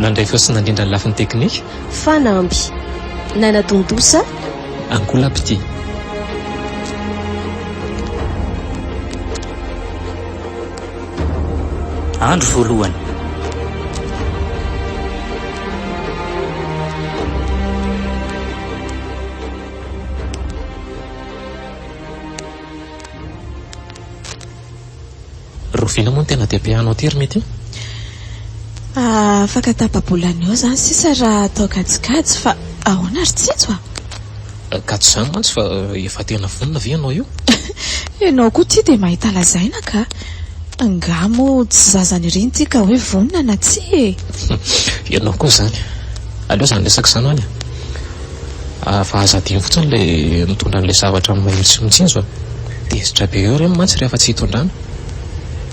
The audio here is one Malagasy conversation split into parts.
Nandray feo sy nandrindra ny lafiny teknika. Fanamby. Naina Dondosa. Angola Petit. Andro voalohany. Rovina moa no tena dia be hanao ity ry Mety a! Afaka tapa-bolana eo izany sisa raha atao kajikajy fa ahoana ry Tsitso a! Ka tsy izany mantsy fa efa tena vonona ve ianao io? Ianao koa ity dia mahita lazaina ka! Angaha moa tsy zazany iry ity ka hoe vonona na tsia e! Ianao koa izany! Aleo izany resaka izany hono e! Fa aza adino fotsiny le mitondra anle zavatra mailo sy mitsinjo a! Tezitra be eo reny mantsy rehefa tsy hitondrana!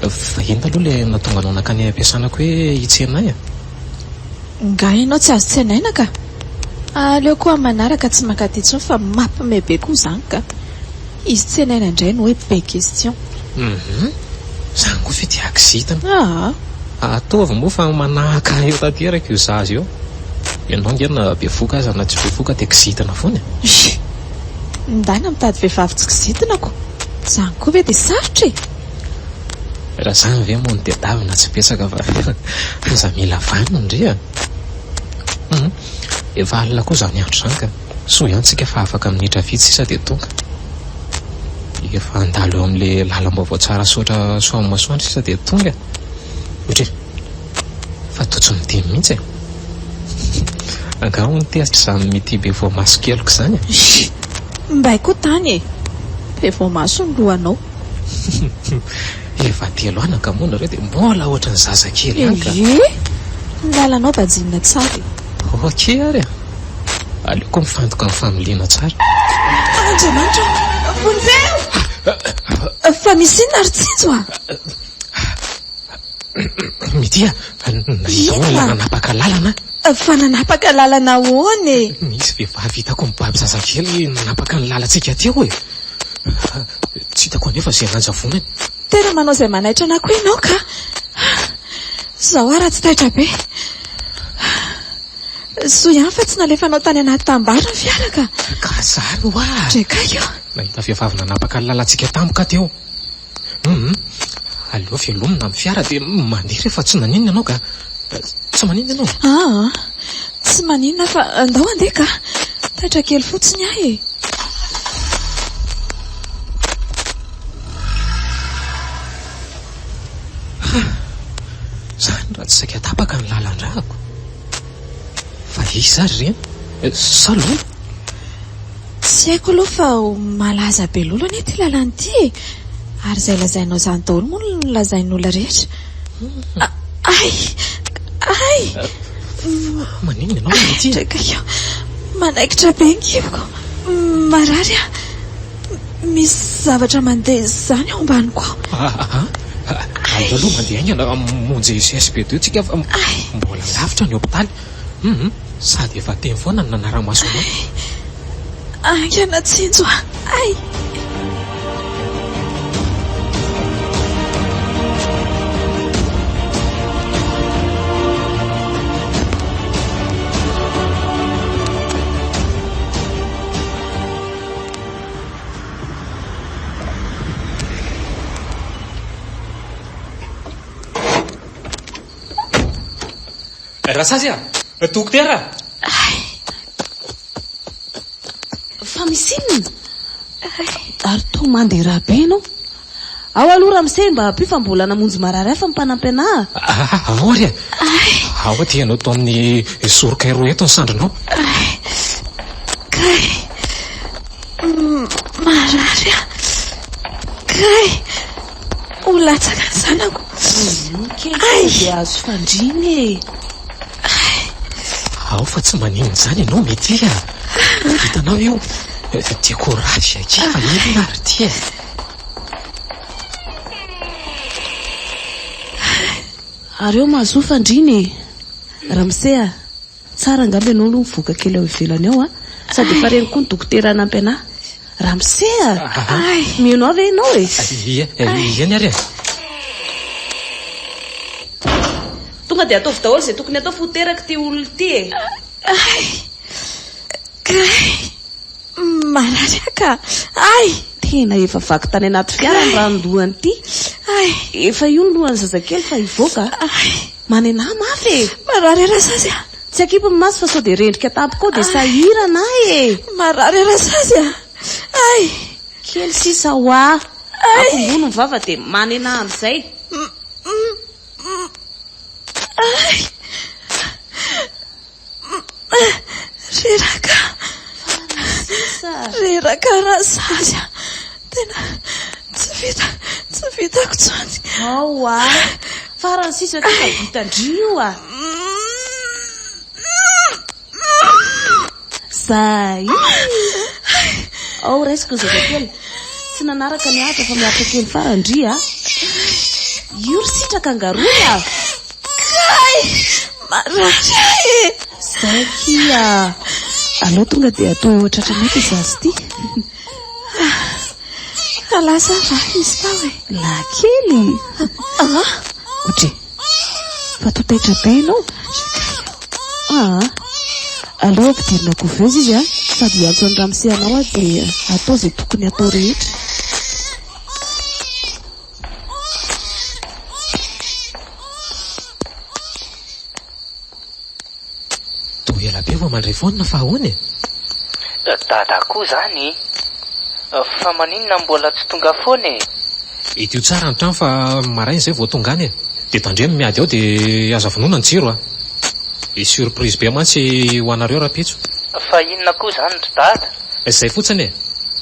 Fa inona aloha le nahatonga anao nankany ampiasana ko hoe hitsenay a! Nga ianao tsy azo tsenaina ka! Aleo ko am manaraka tsy mankaty intsony fa mapme be ko zany ka! Izy tsy ilaina indray ny hoe be question. Hum. Zany koa ve dia akzita an. Aa. Ataovy moa fa manahaka ahy eo tanteraka io zaza io. Ianao ange na bevoka aza na tsy bevoka dia kizitina foana e. Hii. Ndana mitady vehivavy tsy kizitina ko. Zany koa ve dia sarotra e. Raha zany ve moa no tedavina tsy betsaka fa aza mila vaniny ndry a. Hum. Efa alina koa zany andro zany ka. Soa ihany tsika fa afaka minitra vitsy sisa dia tonga dia efa handalo eo amin'ilay lalam-baovao Tsarasaotra Soavimasoandro sisa dia tonga e! Ohatra hoe, fa toa tsy midemy mihitsy e! Angaha hono tezitra izany mitia be voamaso keliko izany e! Hii! Mbay koa tany e! Be voamaso ny lohanao. Efa telo ana ka moa nareo dia mbola ohatran'ny zazakely ihany ka! Ehe! Ny lalanao bajinina tsara e! Ok ary e! Aleoko mifantoka amin'ny familiana tsara. Andriamanitra ô! Vonjeo! Fa misy inona ry Tsinjo a? Mitia, nandao olona nanapaka lalana aho. Fa nanapaka lalana ahoana e? Nisy vehivavy hitako mibaby zazakely nanapaka ny lalantsika teo e! Tsy hitako anefa izay nanjavonany. Tena manao izay manaitra anako ianao ka! Izao aho raha tsy taitra be. Soa ihany fa tsy nalefanao tany anaty tambara ny fiara ka! Ka zany hoa! Traikaiky ô! Nahita vehivavy nanapaka ny lalantsika tampoka aho teo. Hum! Aleo velomina amin'ny fiara dia mandeha rehefa tsy maninona ianao ka! Tsy maninona ianao? Aa! Tsy maninona fa ndao handeha ka! Taitra kely fotsiny aho e! Ha! Izany raha tsy saika tapaka ny lalan-dràko! Fa iza àry ireny? Sa lolo? Tsy haiko aloha fa ho malaza be lolo anie ity lalana ity e! Ary izay lazainao izany daholo moa no nolazain'ny olona rehetra. A, ay! Ay! Maninona ianao, Mety? Ay, draikakio! Manaikitra be ny kiboko. Marary aho. Misy zavatra mandeha izany ao ambaniko ao. Aa! Andao aloha mandeha haingana hamonjy GSB deux tsika fa mbola lavitra ny hopitaly. Hum! Sady efa teny foana ny nanara-maso anao. Ay! Haingana tsinjo a! Ay! Rasazy a! Dokotera! Fa misy inona? Ary toa mandera be ianao. Ao aloha Ramsey mba ampio fa mbola namonjy marary hafa ny mpanampy anah. Aory a! Ahoa dia ianao toa amin'ny soroka eroa eto ny sandrinao? Kay! Marary aho! Kay! Ho latsaka ny zanako! Ay! Dia azo fandriana e! Ao fa tsy maninona izany ianao Mety a! Hitanao io? Dia courage akia fa inona ary ity e! Ary eo mahazoa fandriana e. Ramose a! Tsara angamba ianao aloha mivoaka kely ao ivelany ao a! Sady efa reny koa ny dokotera hanampy anah. Ramose a! Ay! Mino ahy ve ianao e? Iza ny ary e? Tonga dia ataovy daholo izay tokony atao fa ho teraka ity olona ity e! Ay! Kay! Marary ka! Ay! Tena efa vaky tany anaty fiara ny ranon-dohany ity. Ay! Efa io ny lohan'ny zazakely fa hivoaka. Ay! Manena ahy mafy e! Marary e Rasazy a! Tsy akipy ny maso fa sao dia rendrika tampoka ao dia sahirana ahy e! Marary e Rasazy a! Ay! Kely sisa hoa! Akombony ny vava dia manena ahy amin'izay. Ay! Reraka. Reraka Razary a. Tena tsy vita, tsy vitako tsony. Ao a. Farany sisa ty fa vita ndry io a. Zay. Ao raisiko ny zazakely. Tsy nanaraka ny ahitra fa miaritra kely farany ndry a. Io ry sitraka angaroy a. Kay! Marary ahy e! Zaki a! Aleo tonga dia atoy ho tratranay ity zaza ity. Ka lasa va izy tao e? Lahankely! Ah! Odry! Fa toa taitra be ianao! Ah! Aleo ampidirina couveuse izy a! Sady hiantso an'i Ramose anao aho dia atao izay tokony hatao rehetra. Toa ela be vao mandray foana fa ahoana e? Dada koa zany e! Fa maninona mbola tsy tonga foana e? Idio tsara ny trano fa maraina izay vao tonga any e! Dia tandremo ny miady ao dia aza vonoina ny jiro a! Hisy surprise be mantsy ho anareo rahampitso. Fa inona koa izany ry Dada? Izay fotsiny e!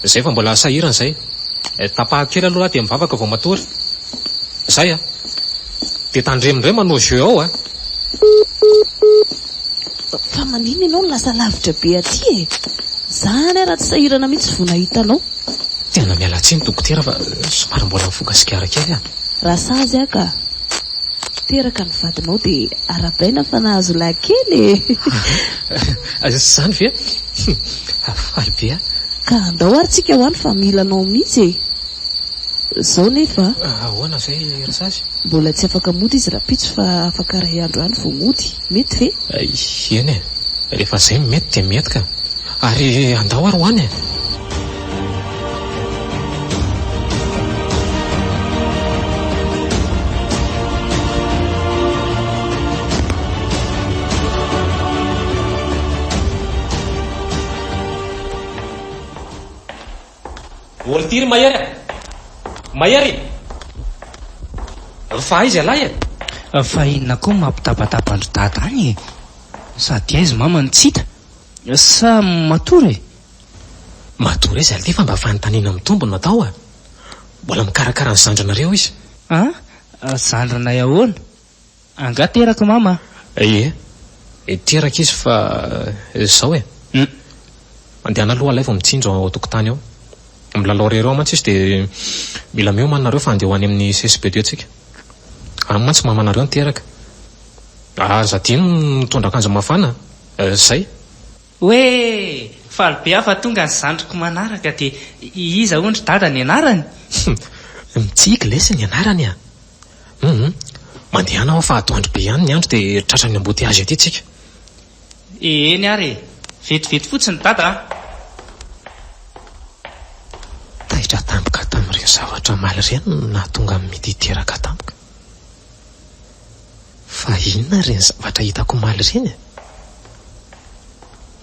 Izay fa mbola sahirana izay. Eh, tapahako kely aloha aty amin'ny vavaka vao matory. Izay an! Dia tandremo indray manao jeu ao an! Fa maninona ianao no lasa lavitra be aty e? Za any ara tsy sahirana mihitsy vao nahita anao. Tena miala tsiny dokotera fa somary mbola mifoka sigara kely aho. Raha sazy aho ka teraka ny vadinao dia arabaina fa nahazo lahy kely e! Izany ve? Fa faly be aho. Ka andao ary tsika ho any fa mila anao mihitsy e! Zao nefa. Ahoana zay ry sasy? Mbola tsy afaka mody izy rapitso fa afaka ray andro any vao mody. Mety ve? Eny e! Rehefa zay mety dia mety ka! Ary andao ary ho any e! Olitiry Mahery a! Mahery! Fa aiza ialahy e? Fa inona koa mampitabataba an-dry dada any e? Sady aiza mama no tsy hita? Sa matory e? Matoa re Zalty fa mba fanontaniana mitombo no atao a! Mbola mikarakara ny zandrinareo izy. A! Zandrinay ahoana? Angaha terak'i Mama? Ie, teraka izy fa izao e! Hum! Mandehana aloha ilay vao mitsinjo ao an-tokotany ao. Milalao irery ao mantsy izy dia mila miomana nareo fa handeha ho any amin'ny CSPD tsika. Any mantsy Mamanareo no teraka. Aza adino ny mitondra akanjo mafana a! Izay! Hoe faly be aho fa tonga ny zandriko manaraka dia iza hono ry dada ny anarany? Humm! Mitsiky lesy ny anarany a! Humm! Mandehana aho fa atoandro be ihany ny andro dia tratran'ny embouteillage aty tsika. Eny ary e! Vetivety fotsiny dada a! Taitra tampoka tamin'ireny zavatra omaly ireny no nahatonga an'i Midi teraka tampoka. Fa inona ireny zavatra hitako omaly ireny e?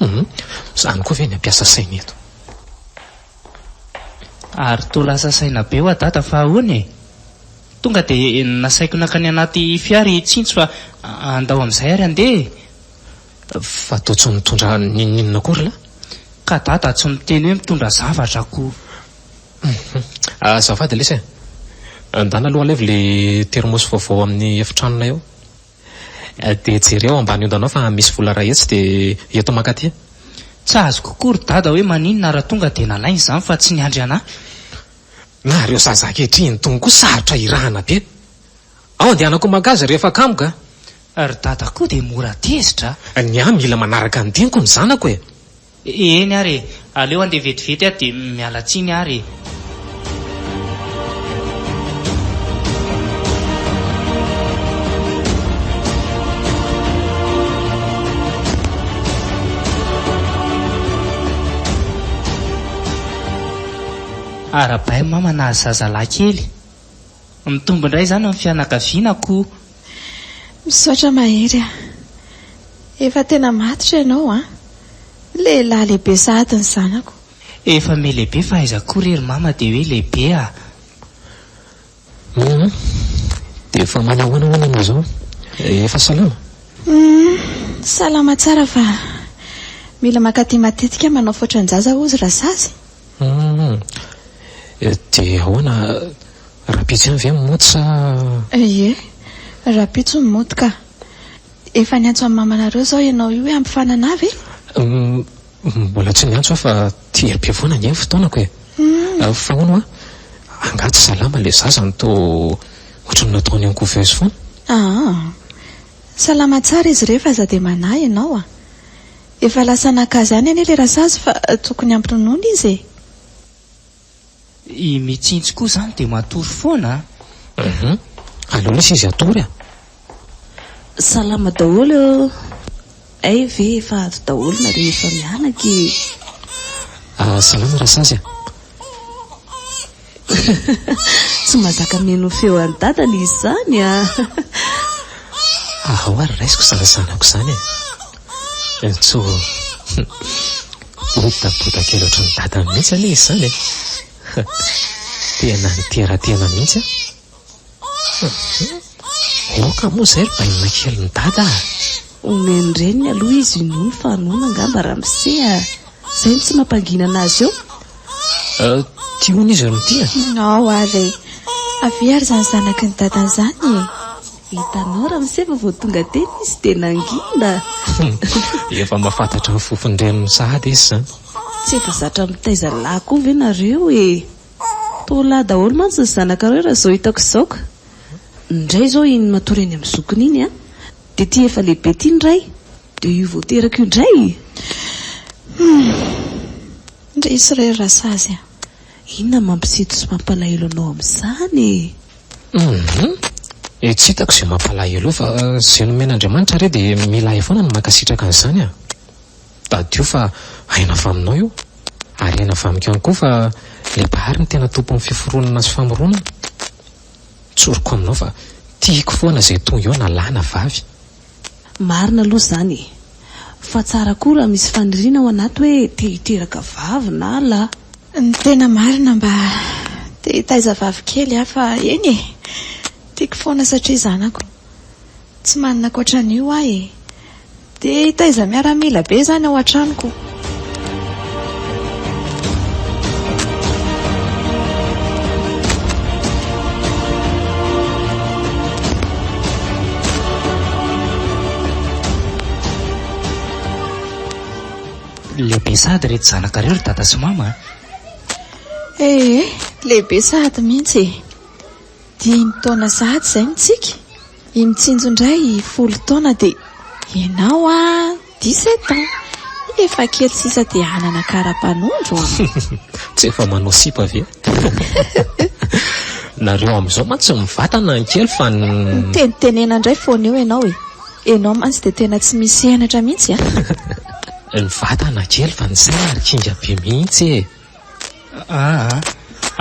Humm, izany koa ve ny hampiasa saina eto? Ary toa lasa saina be hoa dada fa ahoana e? Tonga dia nasaiko nankany anaty fiara i Tsinjo fa andao amin'izay ary handeha e! Fa toa tsy mitondra n'inon'inona akory la? Ka dada tsy miteny hoe mitondra zavatra akory. Humm azafady lesy e! Andana aloha alevy le termos vaovao ao amin'ny efitranonay ao dia jereo ambany ondanao fa misy vola iray hetsy dia eto mankaty. Tsy azoko koa ry dada hoe maninona ary tonga dia nalainy izany fa tsy niandry an'ahy. Na ireo zaza ankehitriny itony koa sarotra hirahana be. Ao andehanako mankazy rehefa kamoka. Ry dada koa dia mora tezitra a! Ny ahy mila manaraka ny diniko ny zanako e! Eny ary e! Aleo handeha vetivety aho dia miala tsiny ary e! Arahabaina mama nahazo zazalahy kely. Mitombo indray izany ny fianakaviana ko! Misaotra mahery a! Efa tena matotra ianao an! Lehilahy lehibe sahady ny zanako. Efa me lehibe fa aiza koa re ry mama dia hoe lehibe a! Humm! Dia efa manao ahoana hono ianao izao? Efa salama? Humm! Salama tsara fa mila mankaty matetika manao faotran-jaza hozy Rasazy. Humm. Dia ahoana, rahampitso ihany ve ny mody sa? Ie, rahampitso ny mody ka. Efa niantso an'i mamanareo izao ianao io hoe hampifanana ve? Humm, mbola tsy niantso aho fa tia be foana ange ny fotoanako e. Humm. Fa hono hoa, angaha tsy salama ilay zaza no toa ohatran'ny nataony en couveuse foana? Aa. Salama tsara izy ireo fa aza dia manahy ianao a. Efa lasa naka zany anie le rasazy fa tokony ampinonoina izy e! I Mitsinjo koa zany dia matory foana a! Hum aleo lesy izy hatory a! Salama daholo eo Hay ve efa avy daholo nareo efa mianaka e! Salama rasazy a! Tsy mazaka mino feo an'i dadany izy zany a! Ahao ary raisiko zany zanako zany e! Entso o! Bodaboda kely ohatran'ny dadany mihitsy anie izy zany e! Tena nitera-tena mihitsy an! Aoka moa izay ry bainina kelin'i Dada a! Omen'ny reniny aloha izy io nono fa noana angamba ramose a! Izay no tsy mampangina anazy eo. Tia hono izy ry Mitia a! Nao ary e! Avia ary izany zanaky ny Dadany izany e! Hitanao ramose fa vao tonga teny izy dia nangina! Efa mahafantatra ny fofon'ny reniny sahady izy izany. Tsy efa zatra mitaiza lahy koa ve nareo e! Torolahy daholo mantsy ny zanakareo raha izao hitako izao ka! Indray izao iny matory any amin'ny zokiny iny an! Dia ity efa lehibe ity ny ray dia io vao teraka io indray! Humm! Resy re ry Rasazy a! Inona no mampisito sy mampalahelo anao amin'izany e? Humm! Eh tsy hitako izay mampalahelo eo fa izay nomen'Andriamanitra re dia milay foana no mankasitraka an'izany a! Tadidio fa aina avy aminao io, ary aina avy amiko ihany koa fa ilay Mpahary no tena tompon'ny fiforonana sy famoronana. Tsoriko aminao fa tiako foana izay toa eo na lahy na vavy. Marina aloha izany e! Fa tsara koa raha misy faniriana ao anaty hoe te hiteraka vavy na lahy. Ny tena marina mba te hitaiza vavy kely aho fa eny e! Tiako foana satria zanako. Tsy manana ankoatran'io aho e! Dia hitaiza miaramila be izany ao an-tranoko. Lehibe sahady ireto zanakareo ry dada sy mama a! Ee, lehibe sahady mihitsy e! Dimy taona sahady izay ny tsiky, i Mitsinjo indray folo taona dia ianao a dix sept ans, efa kely sisa dia hanana kara-panondro a! Tsy efa manao sipa ve? Nareo amin'izao mantsy mivatana ny kely fa ny. Mitenitenena indray foana eo ianao e! Ianao mantsy dia tena tsy misy henatra mihitsy a! Ny vatana kely fa ny saina ry kinga be mihitsy e! Aa!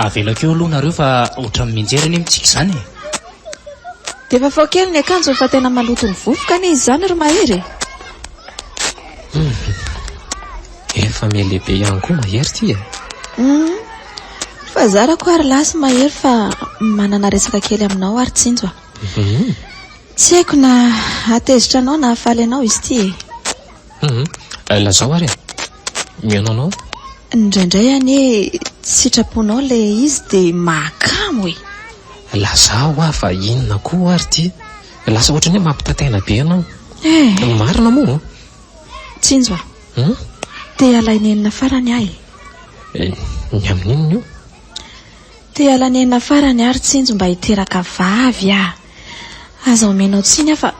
avelako eo aloha nareo fa ohatran'ny mianjera anie mitsika izany e! Dia vaovao kely ny akanjony fa tena maloto ny vovoka anie izy izany ry Mahery e! Hum! efa mihalehibe ihany koa Mahery ity e! Hum! fa zarako ary lahy sy Mahery fa manana resaka kely aminao ary Tsinjo a! Hum! tsy haiko na hahatezitra anao na hahafaly anao izy ity e! Humm eh lazao ary eh! Mihaona anao eh! Indraindray anie tsy sitraponao ilay izy dia mahakamo e! Lazao hoa fa inona koa ary ity? Lasa ohatran'ny hoe mampitataina be ianao. Eh! Ny marina moa o! Tsinjo a! Humm? Te halay nenina farany aho e! Eh, ny amin'inona io? Te halay nenina farany aho ry Tsinjo mba hiteraka vavy aho! Aza omenao tsiny aho fa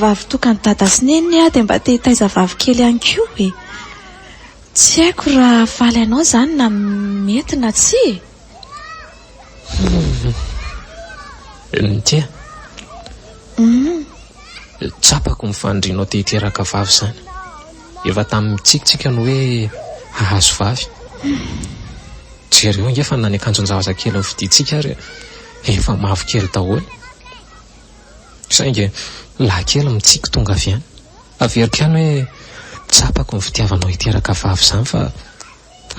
vavy tokan'i Dada sy Neniny aho dia mba te hitaiza vavy kely ihany koa e! Tsy haiko raha hahafaly anao izany na mety na tsia e! Ntia, tsapako ny fanirianao te hiteraka vavy izany. Efa tamin'ny mitsikitsiky aho no hoe hahazo vavy. Jereo ange fa na ny akanjon-javazakely novidiantsika ary. Efa mavokely daholo. Saingy lahikely mitsiky tonga avy any. Averiko ihany hoe tsapako ny fitiavanao hiteraka vavy izany fa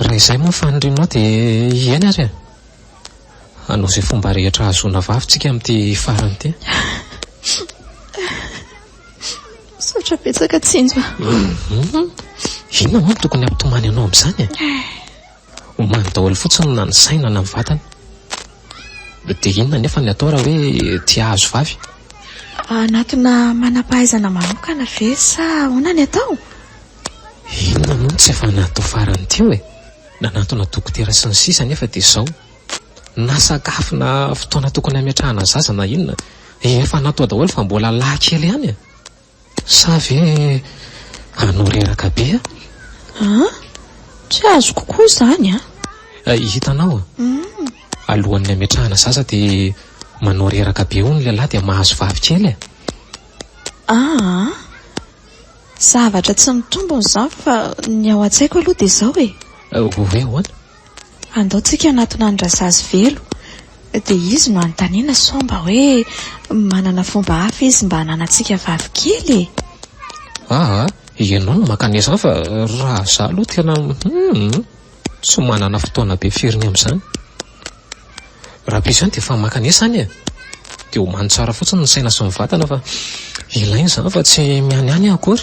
raha izay moa ny fanirianao dia hiaina ary e! Hanao izay fomba rehetra hahazoana vavy tsika amin'ity farany ity. Misaotra betsaka Tsinjo a. Inona moa no tokony hampitomany anao amin'izany e? Omaly daholo fotsiny na ny saina na ny vatana. Dia inona anefa ny atao raha hoe te hahazo vavy? Hanatona manam-pahaizana manokana ve sa ahoana ny atao? Inona moa no tsy efa natao farany teo e? Nanatona dokotera sy ny sisa anefa dia izao. Na sakafo na fotoana tokony hametrahana zaza na inona efa natoa daholo fa mbola lahy kely ihany e! Sa ve hanao reraka be a? An? Tsy azoko koa izany an! Hitanao? Alohan'ny hametrahana zaza dia manao reraka be hono lehilahy dia mahazo vavy kely e! Aa! Zavatra tsy mitombona izany fa ny ao an-tsaiko aloha dia izao e! Hoe ahoana? Andao tsika hanatona an'i Razazy velo dia izy no anontaniana sao mba hoe manana fomba hafa izy mba hananantsika vavy kely e! Aa! ianao no maka ny hafa fa raha izaho aloha tena hum! tsy manana fotoana be firy ny amin'izany. Raha be izany dia efa maka ny any e! dia homany tsara fotsiny ny saina sy ny vatana fa ilaina izany fa tsy mianiany aho akory.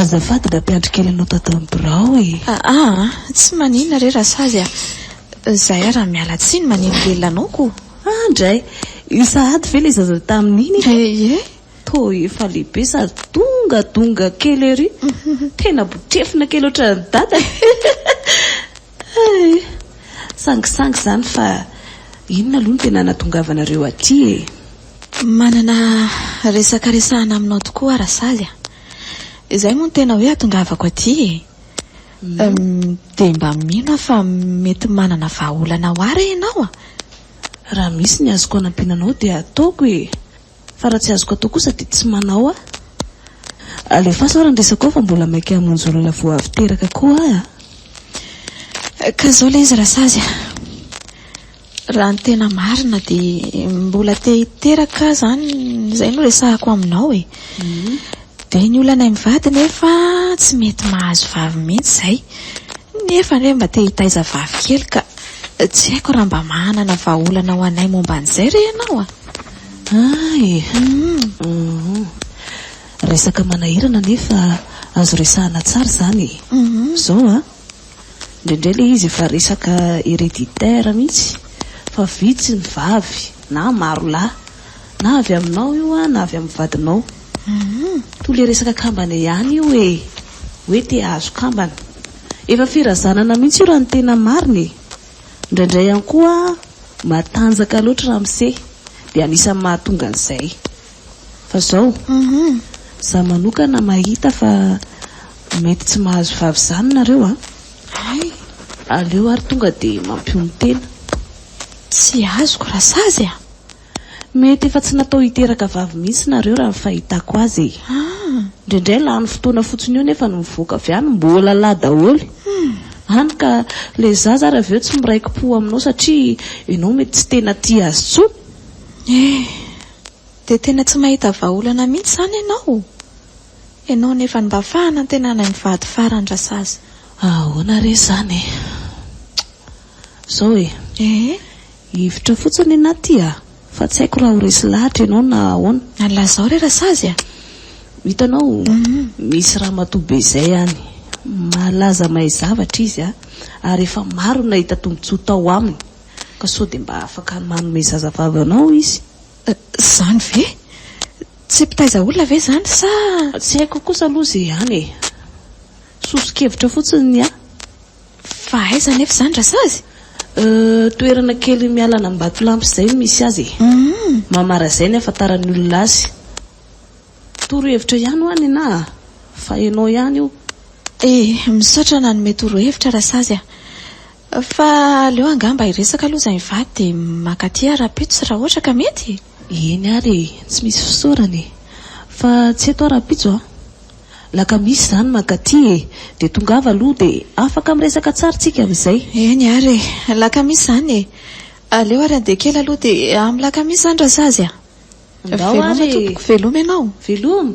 Azafady mba ampiandry kely anao tato amin'ny birao e! Aa a! Tsy maninona re Rasazy a! Zahay ary miala tsiny maneno be lanaoko o! Aa ndray! Io sahady ve ilay zaza tamin'iny iny? Ee e! Toa efa lehibe sady dongadonga kely ery! Tena botrefona kely ohatran'i Dada e! Hay! Sangisangy izany fa inona aloha no tena nahatongavanareo aty e? Manana resaka resahana aminao tokoa aho Rasaly a! Izay moa no tena hoe atongavako aty e! Dia mba mino aho fa mety manana vahaolana ho ahy re ianao a! Raha misy ny azoko anampiana anao dia ataoko e! Fa raha tsy azoko atao kosa dia tsy manao a! Alefaso ary ny resaka ao fa mbola maika hamonjy olona vao avy teraka koa aho a! Ka zao ilay izy Rasazy a! Raha ny tena marina dia mbola te hiteraka aho izany izay no resahako aminao e! Dia ny olanay mivady nefa tsy mety mahazo vavy mihitsy izay! Nefa anie mba te hitaiza vavy kely ka! Tsy haiko raha mba manana vahaolana ho anay momba an'izay re ianao a! Ay hum resaka manahirana nefa azo resahana tsara izany e! Zao a! Indraindray ilay izy efa resaka hereditaire mihitsy fa vitsy ny vavy na maro lahy na avy aminao io a na avy amin'ny vadinao toa ilay resaka kambana ihany io e! Hoe te hahazo kambana. Efa firazanana mihitsy io raha ny tena marina e! Indraindray ihany koa matanjaka loatra ramose dia anisan'ny mahatonga an'izay. Fa izao, izaho manokana mahita fa mety tsy mahazo vavy izany nareo a! Hay! Aleo ary tonga dia mampionon-tena. Tsy azoko raha sazy a! Mety efa tsy natao hiteraka vavy mihitsy nareo raha ny fahitako azy e! Indraindray lany fotoana fotsiny io nefa ny mivoaka avy any mbola lahy daholo hany ka ilay zaza ary avy eo tsy miraiki-po aminao satria ianao mety tsy tena tia azy intsony e! Dia tena tsy mahita vahaolana mihitsy izany ianao? Ianao nefa ny mba fahanantenanay mivady faran-drasazy. Ahoana re izany e! Izao e! Hevitra fotsiny ny aty a! Fa tsy haiko raha ho resy lahatra ianao na ahoana. Ary lazao re Rasazy a! Hitanao, misy ramatoa be izay any, malaza mahay zavatra izy a! ary efa maro ny nahita tombontsoa tao aminy, ka sao dia mba afaka manome zazavavy anao izy. Izany ve? Tsy mpitaiza olona ve izany sa? Tsy haiko kosa aloha izay ihany e! Soso-kevitra fotsiny ny ahy. Fa aiza anefa izany Rasazy? Euh, toerana kely miala an'Ambatolampy izay no misy azy e. Hum. Mamara izay ny ahafantaran'ny olona azy. Torohevitra ihany hoa ny anah a! Fa ianao ihany io. Eh, misaotra nanome torohevitra Rasazy a! Fa aleo angamba hiresaka aloha izay mivady dia mankaty aho rahampitso raha ohatra ka mety e! Eny ary e! Tsy misy fisaorana e! Fa tsy eto aho rahampitso a! La ka misy izany mankaty e! Dia tongava aloha dia afaka miresaka tsara tsika amin'izay. Eny ary e! La ka misy izany e! Aleo ary andeha kely aloha dia amin'ny la ka misy izany raha sazy a! Ndao ary e! Veloma tompoko, veloma ianao. Veloma!